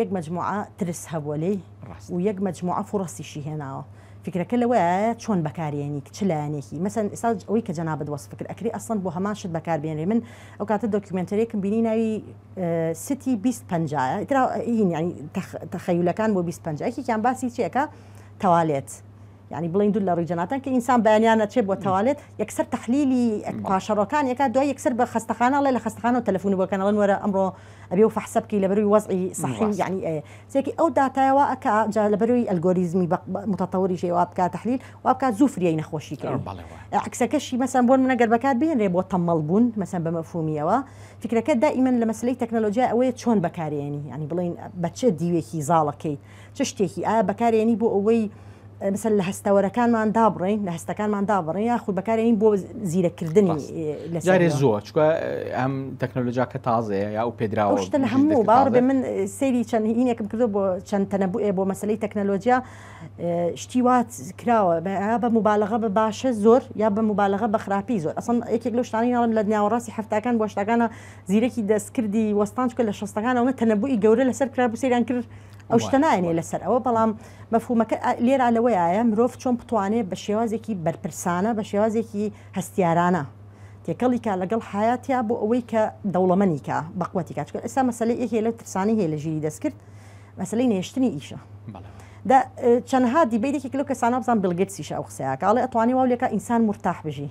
یەک مەجموعە ترس هەبووە لێی و یەک مەجموعە فوڕەسیشی هێناوە فیکرەکە لەوەیایە چۆن بەکارێنیت چ لایەنێکی مەسەن ئێستا ئەوەی کە جەنابت وەسفکرد ئەکری ئەسڵەن بۆ هەمان شت بەکار بێنرێ من ئەو کاتە دۆکیومێنتەرێکم بینی ناوی ستی بیست پەنجایە ئیترا یعنی تەخەیولەکان بۆ بیست پەنجا یەکێکیان باسی چیەکە تەوالێت یانی بڵین دوو لە ڕوی جەناتان کە ئینسان بەیانیان نەچێ بۆ تەوالێت یەکسەر تحلیلی پاشەڕۆکان یەکە دوای یەکسەر بە خەستەخانە ڵێ لە خەستخانە و تەلەفۆن بۆکەنەوە وەرە ئەمڕۆ ئەبێ و فەحسەبکی لە بەروی وەزعی صحی و یعنی ئەیە سێکی ئەو داتایەوە ئەک جا لە بەروی ئەلگۆریزمی متەتەوری شێ واب بکات تحلیل واب بکات زوو فریای نەخۆشی کە عکسەکەشی مەسەن بۆن منەگەر بەکات بێنرێ بۆ تەمەڵ بوون مەسەن بە مەفهومیەوە فکرەکە دائیمەن لە مەسلەی تەکنەلۆژیا ئەوەیە چۆن بەکارێنی ینی بڵین بەچێ دیوێکی زاڵەکەیت چ شتێکی؟ ئایا بەکارێنی بۆ ئەوەی مثلا لە هەستەوەرەکانمان دابڕین لە هەستەکانمان دابڕین یاخود بەکارێنین بۆ زیرەکردنی جارێ زۆر چکە ئەم تەکنۆلۆژیا کە تازەیە یا و پێدراوە شتە لە هەموو باڕ بێ من سەیری چەند هینێکم کردو بۆ چەند تەنەبووێ بۆ مەسلەی تەکنەلۆژیا شتی وات کراوە بە مبالغە بە باشە زۆر یا بە مبالغە بە خراپی زۆر ئەسن یەکێک لە شتانی ناڵم لە ناوەڕاستی هەفتاکان بۆ شتەکانە زیرەکی دەستکردی وەستان چکە لە شستەکانەوە تەنەبووی گەورە لەسەر کرا بوو سەیران کرد ئەو شتە نایەنێ لەسەر ئەوە بەڵام مەفهومەکە لێرا لەوەیە مرۆڤ چۆن بتوانێت بە شێوازێکی بەرپرسانە بە شێوازێکی هەستیارانە تێکەڵی کا لەگەڵ حیاتیا بۆ ئەوەی کە دەوڵەمەنیکە بەقوەتی کا چکە ئێستا مەسلەی یەکێ لە ترسانی هەیە لە ژیری دەستکرد مەسلەی نێشتنی ئیشە دا چەندها دیبەیتێکی لەو کەسانە بزان بلگەتسیش ئەو قسەیەکە ئەڵێ ئەتوانی واو لێکە ئینسان مرتاح بژی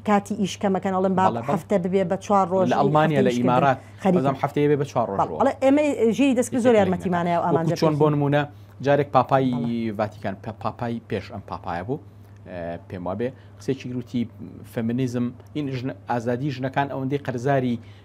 کاتی ئیش کەمەکەن ئەڵم با هەفتە ببێ بە چوار ڕۆژ لە ئەڵمانیا لە ئیمارات خەریزم هەفتەیە بێ بە چوار ڕۆژ ئێمە ژیری دەست زۆر یارمەتیمانە و ئامان چۆن بۆ نمونە جارێک پاپایی ڤاتیکان پاپای پێش ئەم پاپایە بوو پێم وابێ قسێکی گروتی فەمینیزم ئین ئازادی ژنەکان ئەوەندەی قەرزاری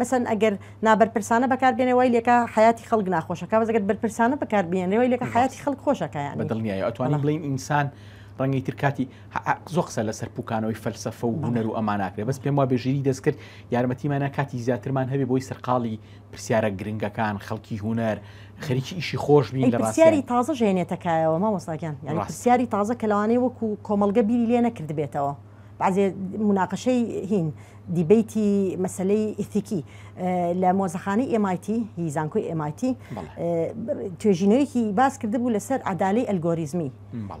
مەسەلەن ئەگەر نابەرپرسانە بەکار بێنێ وای لێکا حیاتی خەڵک ناخۆشەکە بەس ئەگەر بەرپرسانە بەکار بێنێ وای لێکا حیاتی خەڵک خۆشەکە یانی بەدڵنیایی ئەتوانین بەڵێ. بڵێین ئینسان ڕەنگەی تر کاتی ح- ح- زۆر قسە لەسەر پوکانەوەی فەلسەفە و بەڵێ. هونەر و ئەما ناکرێ بەس پێم وابێ ژیری دەستکرد یارمەتیمانە کاتی زیاترمان هەبێ بۆی سەرقاڵی پرسیارە گرنگەکان خەڵکی هونەر خەریکی ئیشی خۆش بین ئەی لە پرسیاری ڕاستیان تازەش هێنێتە کایەوە مامۆستا گیان یانی ڕاستە. پرسیاری تازە کە لەوانەیە وەکو کۆمەڵگە بیری لێ نەکردبێتەوە بەعزێ موناقەشەی هین، دیبەیتی مەسەلەی ئیتیکی لە مۆزەخانەی MIT هی زانکۆی MIT توێژینەوەیەکی باس کردبوو لەسەر عدالی ئەلگۆریزمی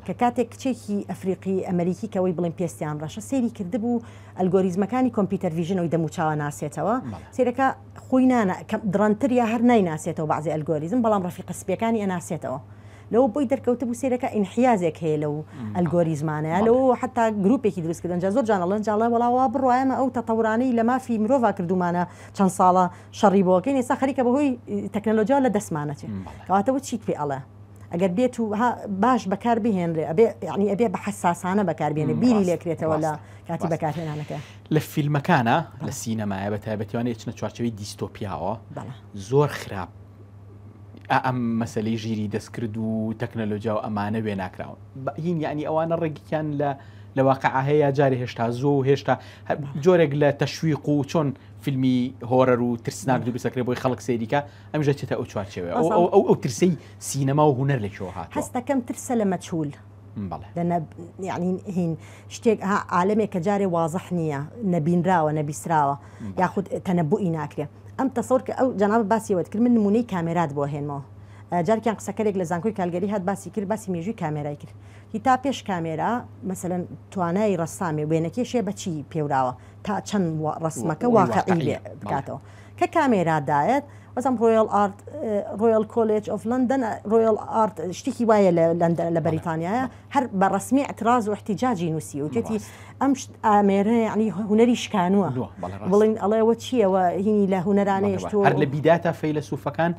کە کاتێک کچێکی ئەفریقی ئەمریکی کەەوەی بڵێن پێستیان ڕەشە سێری کردبوو ئەلگۆریزمەکانی کۆمپیوتەر ویژنەوەی دەموچاوە ناسێتەوە سێرەکە خۆی نانە دڕەنتر یا هەر نایناسێتەوە بەعزی ئەلگۆریزم بەڵام ڕفیقە سپیەکانی ئەناسێتەوە لەوە بۆی دەرکەوتبوو سەیرەکە ئینحیازێک هەیە لەو ئەلگۆریزمانە یا لەوە حتا گروپێکی دروست کردن جا زۆر جان ئەڵێن جا ئەڵێ وەڵا وا بڕوا ئێمە ئەو تەتەورانەی لە مافی مرۆڤا کردوومانە چەند ساڵە شەڕی بۆ ئەکەین ئێستا خەریکە بەهۆی تەکنەلۆجیا لە دەستمانە چێ کەواتە و چیت پێ ئەڵێ ئەگەر بێت و ها باش بەکار بهێنرێ ئەبێ یعنی ئەبێ بە حساسانە بەکار بێنێ بیری لێ کرێتەوە لە کاتی بەکارهێنانەکە لە فیلمەکانە لە سینەمایە بە تایبەتیوانە ئێچنە چوارچێوەی دیستۆپیاوە بەڵێ زۆر خراپ ئا ئەم مەسەلەی ژیری دەستکرد و تەکنەلۆجیا و ئەمانە وێناکراون بەین یعنی ئەوانە ڕێگیان لە لە واقع هەیە جارێ هێشتا زۆ و هێشتا جۆرێک لە تەشویق و چۆن فیلمی هۆرەر و ترسناک دروستەکرێ بۆی خەڵک سەیریکە ئەمژە چێتە ئەو چوارچەوە ئەو ترسی سینەما و هوەر لەکەوە هات هەستەکەم ترسە لە مەچول بەڵێ. دە نە یەعنی هین شتێک ها عالەمێک کە جارێ وازح نییە، نەبینراوە، نەبیسراوە، یاخود تەنەبووئی ناکرێ. ئەم تەسەور کە ئەو جەنابت باسی ئەوەت کرد من نموونەی کامێرات بۆ ئەهێنمەوە. جارێکیان قسەکەرێک لە زانکۆی کالگەری هات باسی کرد باسی مێژووی کامێرای کرد. تی تا پێش کامێرا مەسەلەن توانای ڕەسامێ وێنەکێشێ بە چی پێوراوە تا چەند وا ڕەسمەکە واقعی بێ بکاتەوە. کە کامێرا دایەت وەزم ڕۆیڵ ئارت ڕۆیڵ کۆلێج ئۆف لەندەن ڕۆیڵ ئارت شتێکی وایە لە لەندە لە بەریتانیایە هەر بە ڕسمی ئەتراز و احتیجاجی نووسی و جێتی ئەم ئامێرە یعنی هوەری شکانووە بڵین ئەڵێەوە چیەوە هینی لە هوەرانەیەش تۆ هەر لە بیداتە فەیلەسوفەکان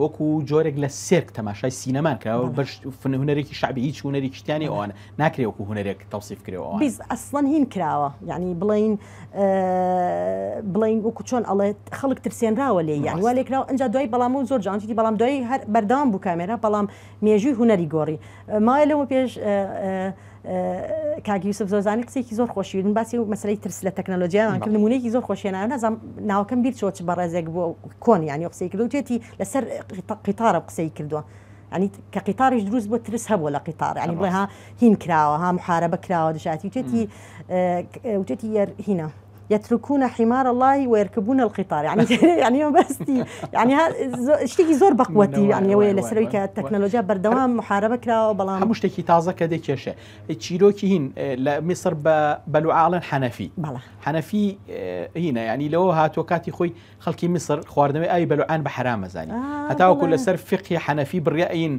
وەکو جۆرێک لە سێرک تەماشای سینەمان کراوە بەش هوەرێکی شعبی هیچ هوەرێکیشتیانی ئەوان ناکرێ وەکو هوەرێک تەوسیف کرەوە ئەسڵەن هین کراوە یعنی بڵین بڵین وکو چۆن ئەڵێت خەڵک ترسێنراوە لێ یان وا لێکراوە ئەجا دوای بەڵام و زۆر جانتی بەڵام دوای هەر بەردەوام بوو کامێرا بەڵام مێژووی هوەری گۆڕی مای لەوە پێش کاگیوسف زۆزانی قسێکی زۆر خۆشی من باسی و مەسری ترس لە تەکنەلۆژیان کرد نمونەیەکی زۆر خۆشیێنە نازم ناوکەم بیر چۆچ بەڕێزێک بۆ کۆن ینی قسەی کرد و توێتی لەسەر قیتارە قسەی کردووە. ینی کە قیتاریش دروست بۆ ترس هەبوو لە قیتار ینی بڵێ ها هین کراوە ها محارە بەکراوە دژاتی توێتی وتێتی یەر هینا. یترکونە حیمار اللهی وەرکبوون القیتار یعنی بەستی یعنی شتێکی زۆر بەقوەتی یعنیەوەی لەسەرەوەی کە تەکنەلۆژیا بەردەوام محاربە کراوە بەڵام هەموو شتێکی تازە کە دەکێشێ چیرۆکی هین لە میسر بە بەلوعاڵن حەنەفی حەنەفی هینە ینی لەوە هاتووە کاتی خۆی خەڵکی میسر خواردنەوەی ئای بەلوعان بە حرامەزانی هەتاوەکو لەسەر فقی حەنەفی بڕیئین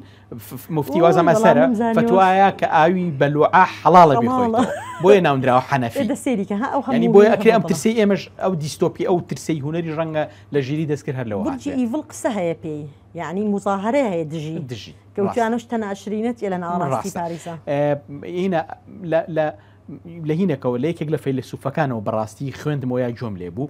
مفتی وازم ئەسەرە فتوایە کە ئاوی بەلوعە حەڵاڵە بخۆیتەوە بۆیە ناوندراوە حەنەفی دەسێریکە ها ئەو هەنی بۆی ئەکرێ ئەم ترسی ئێمەش ئەو دیستۆپی ئەو ترسی هوەری ڕەنگە لە ژیری دەستکرد هەر لەوە ئیڤڵ قسە هەیە پێی یعنی مزاهرەیە هەیە دژی دژی کەوتیانش تەناشرینەت لە ناڕاستی پاریسا هینە لە لە هینەکەەوە لە یەکێک لە فەیلسوفەکانەوە بەڕاستی خوێندمەوە یا جۆم لێ بوو.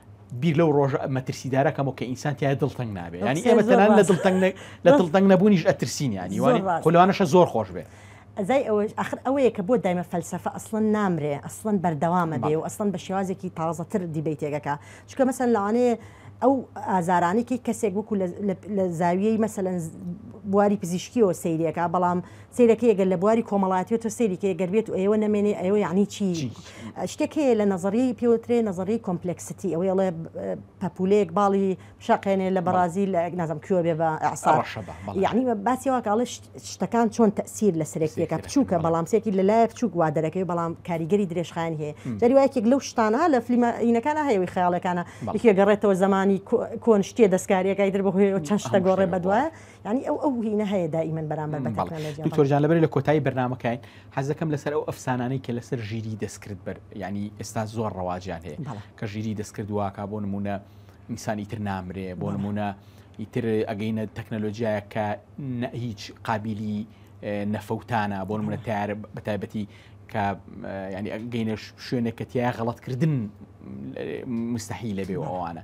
بیر لەو ڕۆژە مەترسیدارە کەمەوە کە ئینسان تیا دڵتەنگ نابێ ینی ئێمە تەنان لە دڵتەنگ لە دڵتەنگ نەبوونیش ئەترسین ینی خولوانەشە زۆر خۆش بێ ئەزای ئەوەش ئەخر ئەوەیە کە بۆ دایمە فەلسفە ئەسڵەن نامرێ ئەسڵەن بەردەوامە بێ و ئەسڵەن بە شێوازێکی تازەتر دیبیتێکەکە چکە مەسەن لەوانەیە ئەو ئازارانێکی کەسێک وەکو لە زاویەی مەسەەن بواری پزیشکیەوە سیرەکە بەڵام سەیرە کەی گەر لە بواری کۆمەڵایەتی و تۆ سەیری کەی گەر بێت و ئەیەوە نەمێنێ ئەیەوە یعنی چی شتێک هەیە لە نەزەریەی پێوترێ نەزەری کۆمپلکسیتی ئەوەی ئەڵێ پەپولەیەک باڵی شەقێنێ لە بەڕازی لە نازم کوێ بێ بە یعنی باسی واکەڵە شتەکان چۆن تەسیر لە سرێکیەکە بچووکە بەڵام سێکی لە لایە بچووک وا دەرەکەی بەڵام کاریگەری درێژخان هەیە دەریواکێک لەو شتانە لە فلیمەینەکانە هەیەوەی خەیاڵەکانە یەگەڕێتەوە زمانی کۆن شتێ دەستکاریەکەی در بەهۆی چەند شتە گۆڕێ بەدوایە ینی ئەو ئەو هینە هەیە دائیمەن بەرامبەر بە دکتۆرجان لەبەر لە کۆتایی بەرنمەکەین حەزەکەم لەسەر ئەو ئەفسانانەی کە لەسەر ژیری دەستکرد بەر ینی ئێستا زۆر ڕەواجیان هەیە کە ژیری دەستکرد واکە بۆ نمونە ئینسانی تر نامرێ بۆ نمونە ئیتر ئەگەینە تەکنەلۆژیایە کە هیچ قابلی نەفەوتانە بۆ منە تار بە تایبەتی کە ینی گەینە شوێنێکەتیای غەڵەتکردن مستحی لەبێ ئەوانە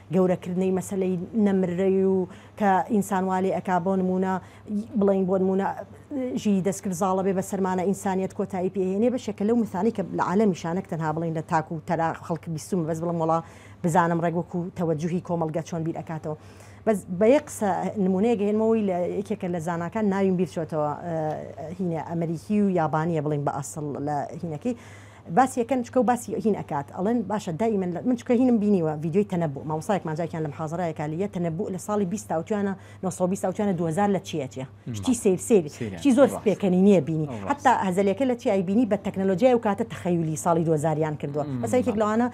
گەورەکردنەی مەسەلەی نەمرەی و کە ئینسان وا لێ ئەکا بۆ نموونە بڵێین بۆ نموونە ژیری دەستکرد زاڵە بێ بە سەرمانە ئینسانیەت کۆتایی پێ هێنێ بەشێکە لەو مثانەی کە لە عالەمیشا نەک تەنها بڵێین لە تاک و تەرا خەڵک بیستوومە بەس بڵێم وەڵا بزانم ڕێک وەکوو تەوەجوهی کۆمەڵگە چۆن بیر ئەکاتەوە بەس بە یەک قسە نموونەیەک هێنمەوەی لە یەکێکە لە زاناکان ناویم بیر چۆتەوە هینە ئەمریکی و یابانییە بڵێین بە ئەسڵ لە هینەکەی باسی ئەکەن چکە و باسی هین ئەکات ئەڵێن باشە دائیمەن لە من چکە هینم بینیوە ڤیدیۆی تەنەبوو مامۆستایەکمان جاکیان لە محازەرەیە کا لیە تەنەبوو لە ساڵی بیست تاوتوێنە نۆ سەد و بیست تاوتوێنە دوو هەزار لە چیە چیە شتی سیر سیر شتی زۆر پێکەنی نیە بینی حەتا هەزەلیەکە لە چی ئەیبینی بە تەکنەلۆجیای ئەو کاتە تەخەیولی ساڵی دوو هەزار یان کردووە مەسەلەن یەکێک لەوانە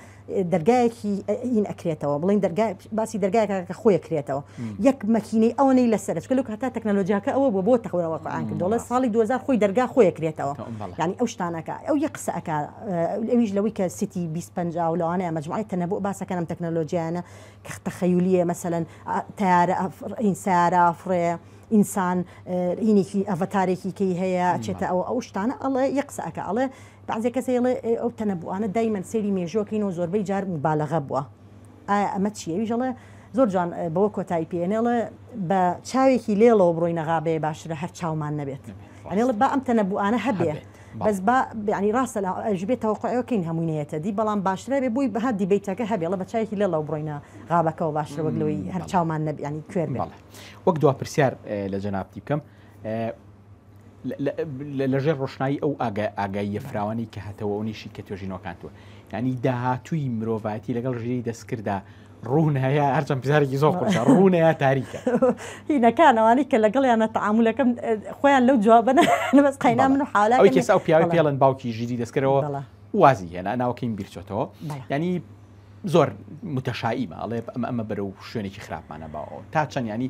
دەرگایەکی ئین ئەکرێتەوە بڵین دەرگای باسی دەرگایەکە کە خۆی کرێتەوە یەک مەکینەی ئەوەی لەسەر چکلو هەتا تەکنەلۆژیاکە ئەوە بۆ بۆ تەخورەوە قۆیان کردۆڵە ساڵی 2000 خۆی دەرگا خۆی کرێتەوە ینی ئەو شتانەکە ئەو یە قسەکە ئەویش لەوەی کە سیتی 25 لەوانە ئەمەجموعی تەنەبوو باسەکەم تەکنەلۆژیانە کە تەخەیولیە مەسەەن تارە ئەفرین سارا فڕێ ئینسان ئینێکی ئەڤتارێکی کەی هەیە چێتە ئەو ئەو شتانە ئەڵێ یە قسەکە ئەڵێ بەعزێ کەس ئەیڵێ ئەو تەنەبووانە دایمەن سەیری مێژووەکەین و زۆربەی جار موبالەغە بووە ئایا ئەمە چیە ئەویش ئەڵێ زۆر جوان بەوە کۆتایی پێ ئەنێڵ بە چاوێکی لێڵەوە بڕۆینە غابەیە باشترە هەر چاومان نەبێت ئەنێڵ با ئەم تەنەبووانە هەبێ بەس با ینی ڕاستە لە ئەژبێت تەوەقعەکەین هەموینەیەتە دی بەڵام باشترە بێ بووی بەها دیبیتەکە هەبێڵە بە چاوێکی لێڵەوە بڕۆینە غابەکەەوە باشترە وەک لەوەی هەر چاومان نەبیانی کوێر وەک دوا پرسیار لە جەنابتی بکەم لە ژێر ڕۆشنایی ئەو ئاگاییە فراوانەی کە هەتەوە ئەو نەیشی کە توێژینەوەکان توە یعنی داهاتووی مرۆڤایەتی لەگەڵ ژێری دەستکردا ڕوونەیە هەرچەند بزارێکی زۆر قورسە ڕوونەیە تاریکە هینەکانەوانی کە لەگەڵیانە تعاملەکەم خۆیان لەو جوابەنە لەبەس قینا من و حالا ئەوی کەسا و پیاوی پێڵن باوکی ژیری دەستکرەوە وازی هێنا ناوکەین بیرچێتەوە ینی زۆر متەشاییمە ئەڵێ ئەمە ئەمە بەرە و شوێنێکی خراپمانە باەوە تا چەندیانی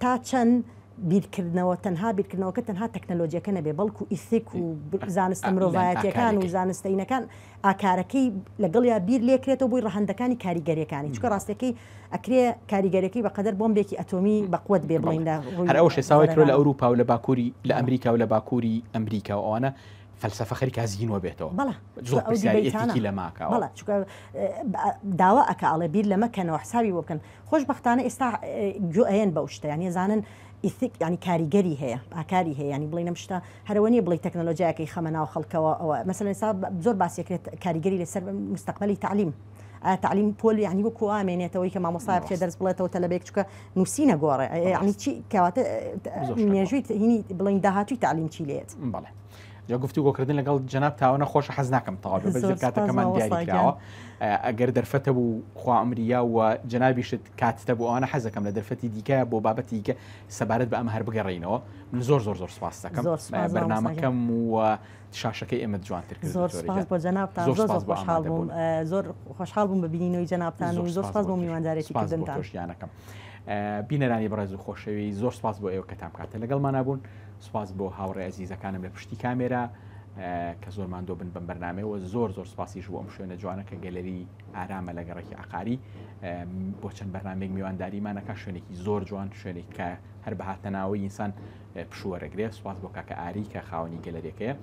تا چەند بیرکردنەوە تەنها بیرکردنەوەکە تەنها تەکنەلۆجیەکە نەبێ بەڵکو ئیسیک و زانستە مرۆڤایەتیەکان و زانستەینەکان ئاکارەکەی لەگەڵیا بیر لێکرێتەوە بۆی ڕەهندەکانی کاریگەریەکانی چکە ڕاستەکەی ئەکرێ کاریگەرەکەی بەقەدەر بۆمبێکی ئەتۆمی بەقوت بێ بڵین لە هەر ئەو شێساوی کرۆ لە ئەوروپا و لە باکووری لە ئەمریکا و لە باکووری ئەمریکا و ئەوانە فەلسفە خەریکا زیینوە بێتەوە زۆرتیکی لە ماکەوە داوا ئەکە ئەڵێ بیر لەمەکەنەوە حسابی بۆ بکەن خۆشبەختانە ئێستا گوئەیەن بەو شتە یانی ئەزانن ئیثیک یانی کاریگەری هەیە ئاکاری هەیە یانی بڵێن ئەم شتە هەرەوە نیە بڵێی تەکنەلۆجیاکەی خەمە ناو خەڵکەوە ئەوە مەسەلەن ئێستا زۆر باس ئەکرێت کاریگەری لەسەر موستەقبەلی تەعلیم ئایا تەعلیم پۆل یانی وەکو وا مێنێتەوەی کە مامۆستا بچێ دەرس بڵێتەوە تەلەبێک چکە نووسی نەگۆڕێ یانی چی کەواتە مێژووی هینی بڵین داهاتووی تەعلیم چی لێت بەڵێ جا گفتوگۆکردن لەگەڵ جناب تاوانە خۆش حەز ناکەم تەواو بە زۆر کاتەکەمان دیاریکراوە ئەگەر دەرفەتە بوو خوامریا و جنابیشت کاتتە بۆ ئەوانە حەزەکەم لە دەرفەتی دیکە بۆ بابەتی کە سەبارەت بە ئەم هەر بگەڕینەوە من زۆر زۆر زۆر سپاس دەکەم بەرنمەکەم و شاشەکەی ئێمە جوانتر زۆر بۆ جنابتان زۆر خۆشحاڵ بووم زۆر خۆشحاڵ بووم بە بینینەوەی جنابتان و زۆر سپاس بۆ میواندارێتی کردنتان. بینەرانی بەڕێز و خۆشەوی زۆر سپاس بۆ ئێوە کەتام کاتە لەگەڵمانە بوون سوپاس بۆ هاوڕێ ئەزیزەکانم لە پشتی کامێرا کە زۆر ماندۆ بن بەم بەرنمەوە زۆر زۆر سپاسیش بۆ ئەم شوێنە جوانە کە گەلەری ئارامە لە گەڕێکی عقاری بۆ چەند بەرنمێک میوانداریمانەکە شوێنێکی زۆر جوان شوێنێک کە هەر بەهاتەناوە ئینسان پشوەرەگرێ سوپاس بۆ کاکە ئاری کە خاوەنی گەلەرێکەیە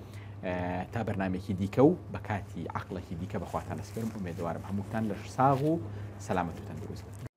تا بەرنمێکی دیکە و بە کاتی عقلەکی دیکە بەخواتان نسپرم ئومێدەوارم هەمووتان لە ساغ و سەلامەت و تەندروست